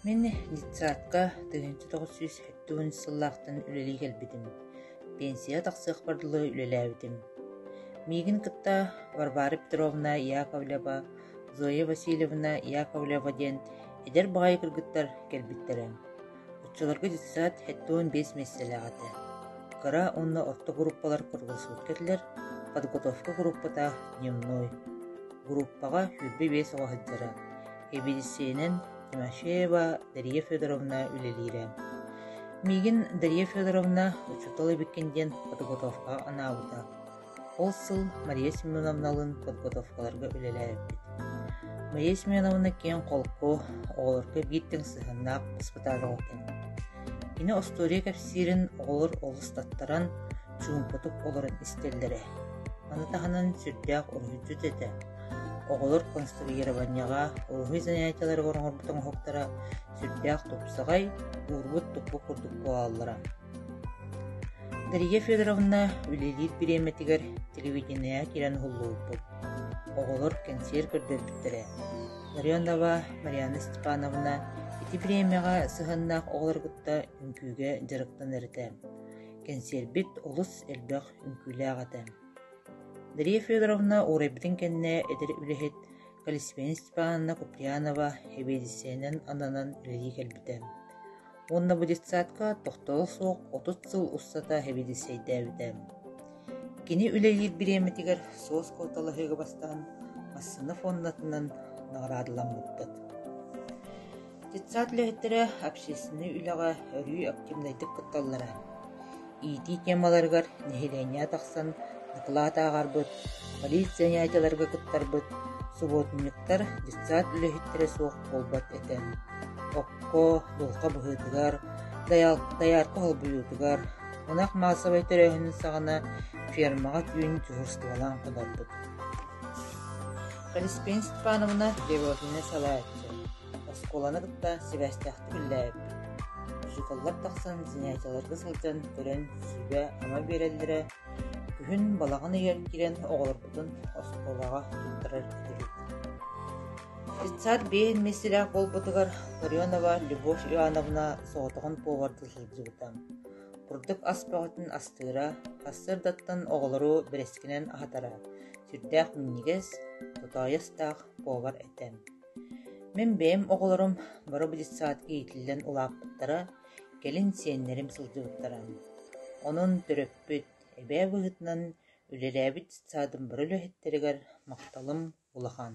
Мин детсадка тыһыынча тоҕус сүүс сэттэ уон сыллаахтан үлэлии кэлбитим, пенсияҕа тахсыахпар дылы үлэлээбитим. Миигин кытта Варвара Петровна Яковлева, Зоя Васильевна Яковлева диэн эдэр баҕайы кыргыттар кэлбиттэрэ. Оччолорго детсад сэттэ уон биэс миэстэлээх этэ. Кыра уонна орто группалар кыргылсыбыкка этилэр, подготовка группата дневной. Группаҕа сүүрбэ биэс оҕо сылдьара. Эбиэссийэнэн Тимофеева Дария Федоровна үлэлиирэ. Миигин Дария Федоровна учуутал эбиккин диэн подготовкаҕа анаабыта. Ол сыл Мария Семеновналыын подготовкаларга үлэлээбиппит. Мария Семеновна киэҥ холку, оҕолорго биир тэҥ сыһыаннаах испытаал этэ. Кини остуоруйа кэпсиирин оҕолор олус таттаран, чуумпутук олорон истэллэрэ. Маны таһынан сүрдээх уруһуйдьут этэ. Оҕолор конструированиеҕа, улаһыы занятиеларыгар оҥорбут оҥоһуктара сүрдээх тупсаҕай, уурбут туппут курдук буолаллара. Дария Федоровна үлэлиир бириэмэтигэр телевидениеҕа киирэн уһуллубуппут. Оҕолор кэнсиэр көрдөрбүттэрэ. Ларионова Марианна Степановна ити бириэмэҕэ сыһыаннаах оҕолору кытта үҥкүүгэ дьарыктанар этэ. Кэнсиэрбит олус элбэх үҥкүүлээх этэ. Дария Федоровна уурайбытын кэннэ эдэр үлэһит Колесница Степановна Куприянова эбиэдиссэйинэн ананан үлэлии кэлбитэ уонна бу детсадка тохтоло суох отут сыл устата эбиэдиссэйдээбитэ. Кини үлэлиир бириэмэтигэр суос куоталаһыыга бастаан массыына фоннатынан наҕараадаламмыттат. Детсад үлэһиттэрэ общественнай үлэҕэ өрүү активнайдык кытталлара, иитии темаларыгар нэһилиэнньэ тахсан дакылаат ааҕарбыт, полиция ньаайдаларга кыттарбыт субуотунньуктар детсад үлэһиттэрэ суох буолбат этэ. Окко, дулҕа быһыытыгар, доярка холбуйуутугар, ынах маассабай төрөөһүнүн саҕана фермаҕа түүн дьуһурстубалаан кынарбыт Каспин Степановна Девотина салайааччы, оскуоланы кытта сибээстээхтик үллэһэрбит. Учууталлар тахсан сэнээтэлэргэ сылдьан көрөн сүүбэ-ама биэрэллэрэ, күһүн балаҕан ыйар киирэн оҕолорбутун оскуолаҕа туттарар этибит. Детсад биир миэстэлээх буолбутугар Ларионова Любовь Ивановна соҕотоҕун поварга сылдьыбыта. Курдук ас бөҕөтүн астыыра, сарсыардаттан оҕолору бэрэскинэн аһатара, сүрдээх минньигэс, тотоойустаах повар этэ. Мин бэйэм оҕолорум боро детсад иитиллэн улааппыттара, кэлин сиэннэрим сылдьыбыттара. Онон төрөппүт, эбээ быһыытынан үлэлээбит детсадым бары үлэһиттэригэр махталым улахан.